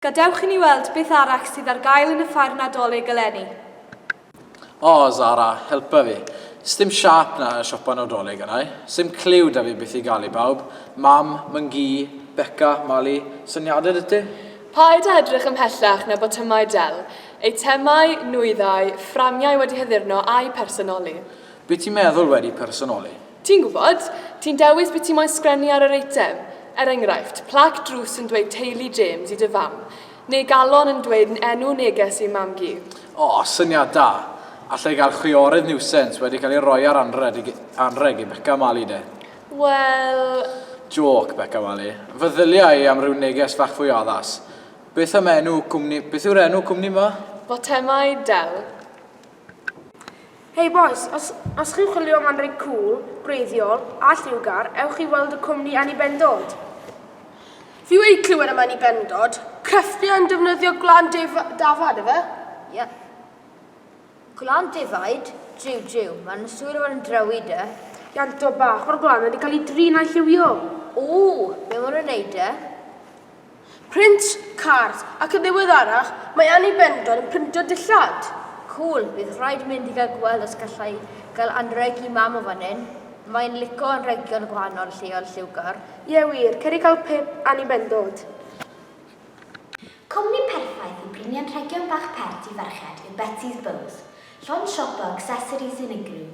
Gadewch i ni weld beth arall sydd ar gael yn y ffair Nadolig eleni. O, Zara, helpa fi. Sdim siâp 'na yn y siopa Nawdolig, a nai. Sim cliw 'da fi beth i gael i bawb. Mam, Myn-gu, Beca, Mali, syniadau 'da ti? Paid â edrych ymhellach na botymau del, eitemau, nwyddau, fframiau wedi haddurno a'u personoli. Be ti'n meddwl wedi personoli? Ti'n gwybod, ti'n dewis be ti moyn sgrennu ar yr eitem. Er enghraifft, plac drws yn dweud Teulu James i dy fam, neu galon yn dweud 'n enw neges ei mam-gu. O, syniad da! Alla i gael chwiorydd niwsens wedi cael ei roi ar anrheg i Beca Mali, de? Wel... Jôc, Beca Mali. Feddylia i am ryw neges fach fwy addas. Beth am enw cwmni... Beth yw'r enw cwmni 'ma? Botemae Del. Hey bois, os os chi'n chwilio am anrheg cŵl, gwreiddiol, a lliwgar, ewch i weld y cwmni Annie Bendod. Fi wedi clywed am Annie Bendod, crefftiau yn defnyddio gwlân def- dafad, efe? Ie. Gwlân defaid? Jiw, jiw, maen nhw'n siŵr o fod yn drewi, de. Ianto bach o'r gwlân wedi cael ei drin a'i lliwio. Ww, be maen nhw'n neud, de? Print, card, ac yn ddiweddarach mae Annie Bendon yn printo dillad! Cŵl, bydd rhaid mynd i gael gweld os galla i gael anrheg i Mam o fan hyn, mae'n lico anrhegion o gwahanol lleoedd lliwgar. Ie wir, cer i gael pip Annie Bendod. Cwmni perffaith i brynu anrhegion bach pert i ferched yw Betsy's Bows, llond siopa o accessories unigryw,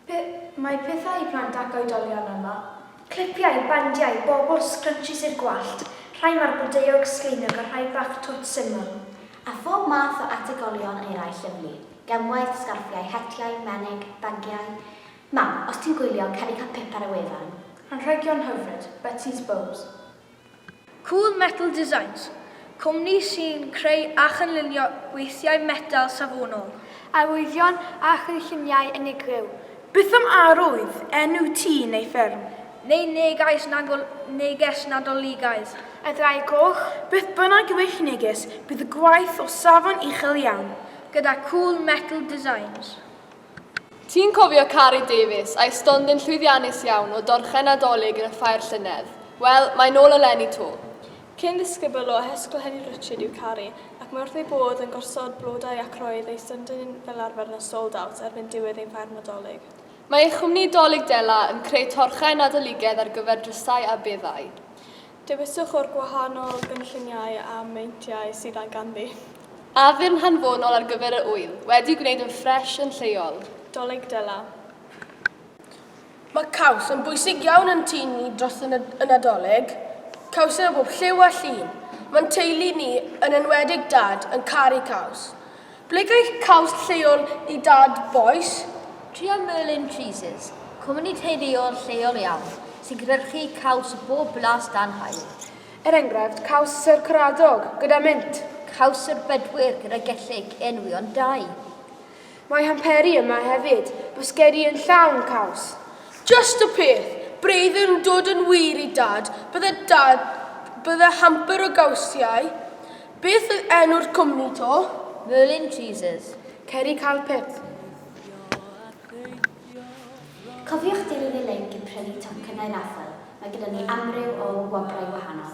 Pe mae pethau i plant ac oedolion yma, clipiau, bandiau, bobl, sgrynshis i'r gwallt, rhai marbldeuog, sgleiniog a rhai bach twt syml. A phob math o ategolion eraill yn fy gemwaith, sgarffiau, hetiau, menig, bagiau. Mam, os ti'n gwylio, cer i cael pip ar y wefan. Anrhegion hyfryd, Betsy's Bows. Cool Metal Designs, cwmni sy'n creu a chynllunio gweithiau metel safonol. Arwyddion a chynlluniau unigryw. Beth am arwydd, enw tŷ neu fferm? Neu neges Nadol, neges Nadoligaidd? A Ddraig Goch? Beth bynnag yw eich neges, bydd y gwaith o safon uchel iawn. Gyda Cool Metal Designs. Ti'n cofio Carrie Davies a'i stondin llwyddiannus iawn o dorchen Nadolig yn y ffair llynedd? Wel, mae nôl eleni 'to. Cyn ddisgybl o Hesgohenni Richard yw Carrie ac mae wrth ei bodd yn gosod blodau ac roedd ei stondin fel arfer yn y sold out erbyn diwedd ein ffair Nadolig. Mae ei chwmni Dolig Dela yn creu torchau Nadoligedd ar gyfer drysau a beddau. Dewiswch o'r gwahanol gynlluniau a meintiau sydd a'i ganddi. Addurn hanfonol ar gyfer yr ŵyl, wedi'i gwneud yn ffres yn lleol. Dolig Dela. Mae caws yn bwysig iawn yn tŷ ni dros y Nadolig. Caws yw o bob lliw a llun. Mae'n teulu ni, yn enwedig Dad, yn caru caws. Ble geiff caws lleol ei dad, bois? Tria Merlin Cheeses, cwmni teuluol lleol iawn sy'n cynhyrchu caws o bob blas dan haul. Er enghraifft, caws Sir Caradog, gyda mint. Caws Sir Bedwyr, gyda gellyg, enwi ond dau. Mae Hamperi yma hefyd, bwsgedi yn llawn caws. Just y peth! Braidd yn dod yn wir i Dad, bydde Dad, bydde hamper o gawsiau Beth oedd enw'r cwmni 'to? Merlin Cheeses. Cer i Carpet. Cofiwch dilyn y linc i prynu tocynnau raffl, mae gyda ni amryw o wobrau gwahanol.